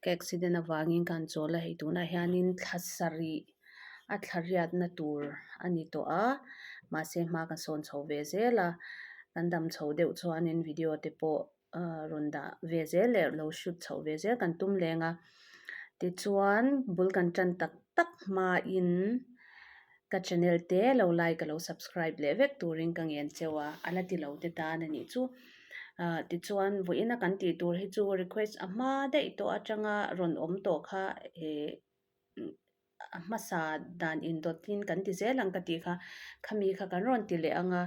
Ka accident avangin ka han chawl a, hei tunah hianin thla sarih a thla hriatna tur a ni tawh a, mahse hma kan sawn chho ve zel a, kan dam chho deuh chuanin video te pawh rawn dah ve zel leh lo shoot chho ve zel kan tum leng a, tichuan bul kan tan tak tak hmain. Ka channel te lo like ka lo subscribe leh vek turin ka ngen cheu a, a la ti lo te tan a nih chu. Ahh tichuan vawi ina kan tih tur hi chu request a hma daih tawh atanga rawn awm tawh kha ehh a hmasa dan in dawt in kan ti zel ang ka tih kha khami kha kan rawn ti leh ang a,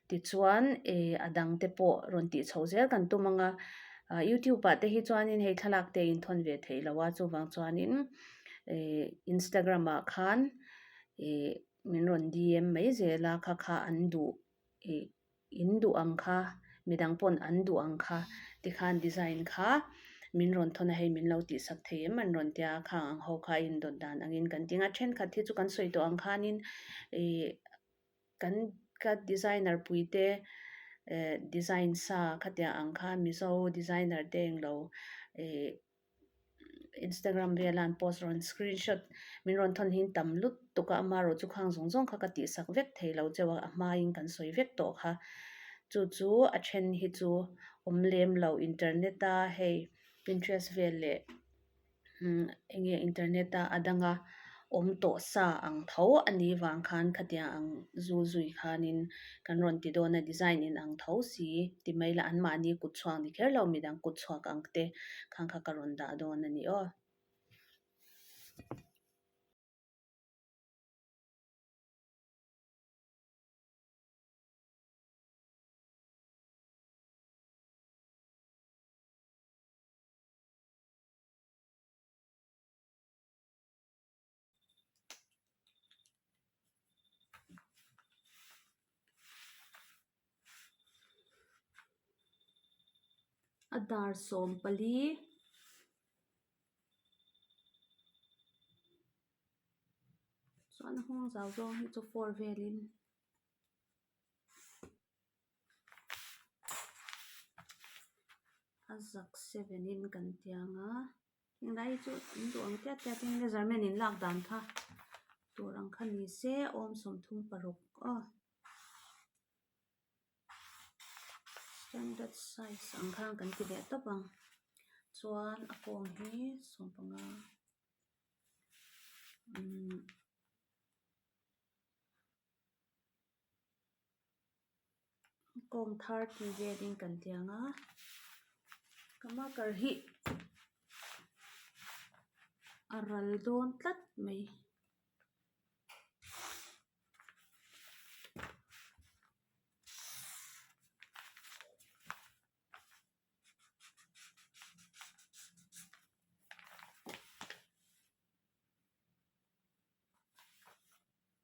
tichuan ehh a dang te pawh rawn tih chhoh zel kan tum ang a. Ahh youtube ah te hi chuan hei thlalak te a inthawn ve theih lo a, chuvang chuan in ehh instagram ah khan. ih min rawn di em mai zel a kha kha an duh ih in duh ang kha midang pawn an duh ang kha tikhan design kha min rawn thawn a hei min lo tih sak thei em an rawn tia kha ang ho kha a indawt dan angin kan tih ang a a thenkhat hi chu kan sawi tawh ang khanin ih kan ka designer puite eh design sa kha tia ang kha mizo designer te englo ih-- Instagram vela an post rawn screen shot min rawn thawn hi tam lutuk a ama erawh chu khang zawng zawng kha ka tih sak vek thei lo chauh a a hmaiin kan sawi vek tawh kha chu chu a then hi chu awm lem lo internet a hei Pinterest vel leh umm enge internet a a dang a. awm tawh sa ang tho a nih vang khan khatiang ang zu zui khanin kan rawn ti dawn a design in ang tho si ti mai ila anmahni kut chhuak ni kher lo midang kut chhuak ang te khang kha ka rawn dah dawn a ni aw. a dar sawm pali chuan a nghawng zau zawng hi chu four velin a zak seven in kan tih ang a. Hengdai hi chu an duh ang tiat tiat in measurement in lak dan kha tur ang kha ni se awm sawm thum paruk aw standard size ang kha kan ti leh tawp ang chuan a kawng hi sawm panga umm-- kawng thar ti ve ding kan ti ang a kama kar hi a ral dawn tlat mai.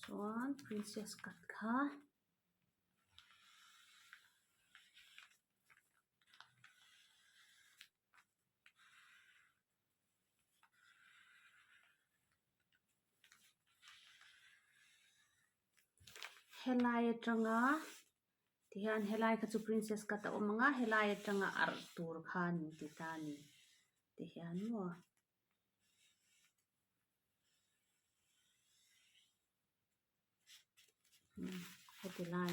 chuan princess cut kha helai atanga. Tihian helai kha chu princess cut a awm ang a helai atanga arh tur kha a ni tih ta a ni tihian maw. Heti lai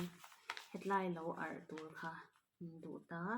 hetlai lo arh tur kha min duh ta a.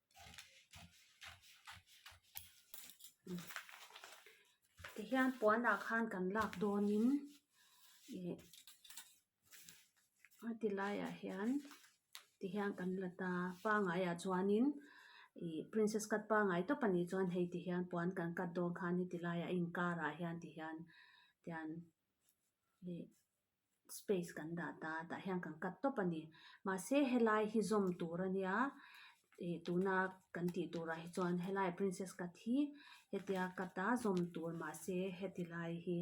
tihian puanah khan kan lak dawnin ih a ti laiah hian tihian kan la ta pangaiah chuanin ih princess cut pangai tawp a nih chuan hei tihian puan kan cut dawn khan heti laia a inkarah hian tihian tian ih-- space kan dah ta tah hian kan cut tawp a ni mahse helai hi zawm tur a nia ih tuna kan tih tur ah hi chuan helai princess cut hi hetia cut a zawm tur mahse heti lai hi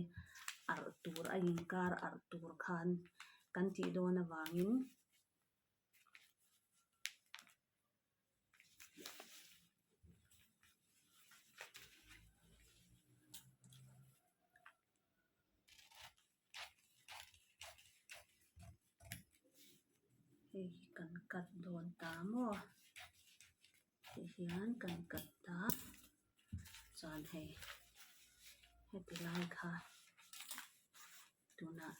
arh tur a inkar arh tur khan kan tih dawn avangin. hei hi kan cut dawn ta maw tih hian kan cut ta chuan hei heti lai kha tunah--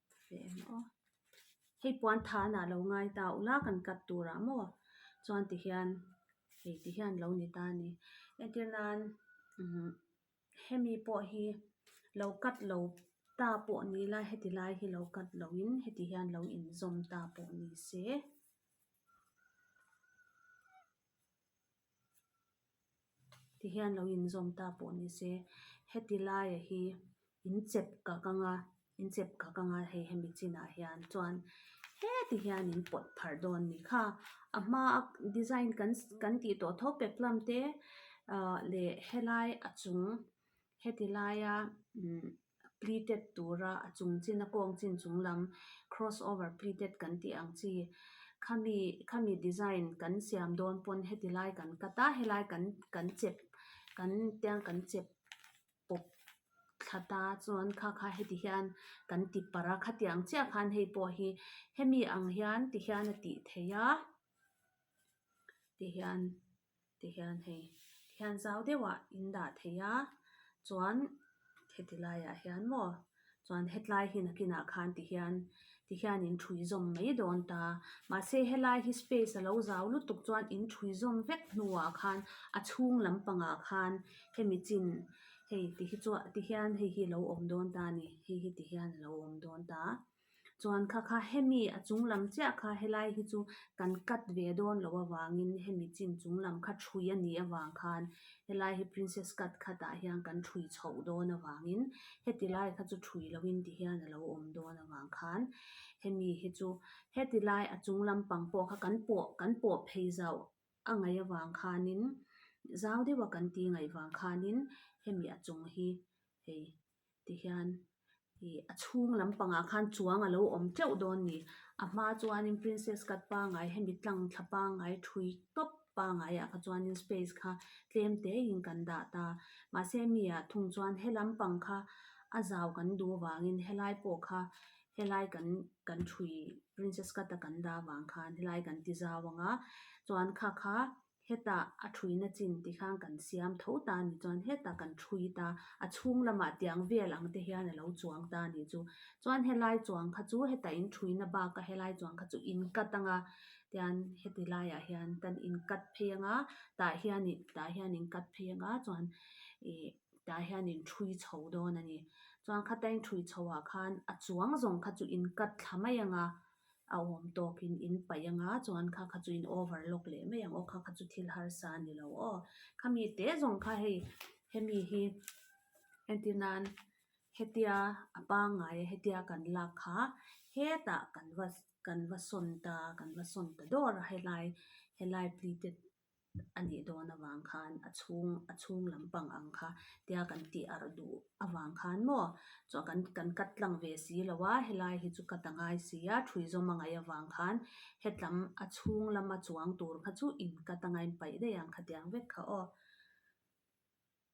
hei puan tha an ah lo ngai ta a ula kan cut tur ah maw chuan ti hian hei ti hian lo ni ta a ni entir nan umm hemi pawh hi lo cut lo ta pawh ni ila heti lai hi lo cut lo in heti hian lo in zawm ta pawh ni se. ti hian lo inzawm ta pawh ni se heti laia hi inchep kak anga inchep kak anga hei hemi chinah hian chuan heti hian in pawt phar dawn ni kha a hma a design kan kan tih tawh tho peplum te ah leh helai a chung-- Heti laia pleated tura a chung chin, a kawng chin chung lam cross over pleated kan tih ang chi. Khami, khami design kan siam dawn pawn heti lai kan cut a, helai kan kan chep, kan tiang kan chep pawp thla ta chuan kha kha heti hian kan ti par a, khati ang chiah khan hei pawh hi hemi ang hian ti hian a tih theih a, ti hian. ti hian hei ti hian zau deuhah in dah theih a chuan heti laiah hian maw chuan hetlai hi nakinah khan ti hian ti hian in thui zawm mai dawn ta mahse helai hi space a lo zau lutuk chuan in thui zawm vek hnuah khan a chhung lampangah khan hemi chin hei ti hi chuan ti hian hei hi a lo awm dawn ta a ni hei hi ti hian a lo awm dawn ta a. chuan kha kha hemi a chung lam chiah kha helai hi chu kan cut ve dawn loh avangin hemi chin chung lam kha thui a nih avang khan helai hi princess cut khat ah hian kan thui chhoh dawn avangin heti lai kha chu thui lo in ti hian alo awm dawn avang khan hemi hi chu heti lai a chung lam pang pawh kha kan pawh kan pawh phei zauh a ngaih avang khanin zau deuh a kan ti ngaih vang khanin hemi a chung hi hei-- ti hian ih a chhung lampangah khan chuang a lo awm teuh dawn a ni a hma chuanin princess cut pangai hemi tlangthla pangai thui tawp pangai ah kha chuanin space kha tlem te in kan dah ta mahse a mi ah thung chuan he lampang kha a zau kan du avangin helai pawh kha helai kan kan thui princess cut a kan dah avang khan helai kan ti zau ang a chuan kha kha-- Heta a thuina chin ti khan kan siam tho ta a nih chuan heta kan thui ta a chhung lamah tiang vel ang te hian a lo chuang ta a nih chu. Chuan helai chuang kha chu heta in thuina baka helai chuang kha chu in cut anga tian heti laiah hian kan in cut phei anga tah hian in tah hian in cut phei anga chuan ih tah hian in thui chho dawn a ni. Chuan khata in thui chhoh ah khan a chuang zawng kha chu in cut thla mai anga. a awm tawkin in paih anga chuan kha kha chu in over lawk leh mai ang aw kha kha chu thil harsa a ni lo aw khami te zawng kha hei hemi hi heti nan hetia a pangai a hetia kan lak kha hetah kan va kan va sawn ta kan va sawn ta dawr a helai helai pleated -- a nih dawn avang khan a chhung a chhung lampang ang kha tia kan tih arh duh avang khan maw chuan kan kan cut tlang ve si lo a helai hi chu cut a ngai si a thui zawm a ngaih avang khan hetlem a chhung lama chuang tur kha chu in cut a ngaihpaih daih ang kha tiang vek kha aw.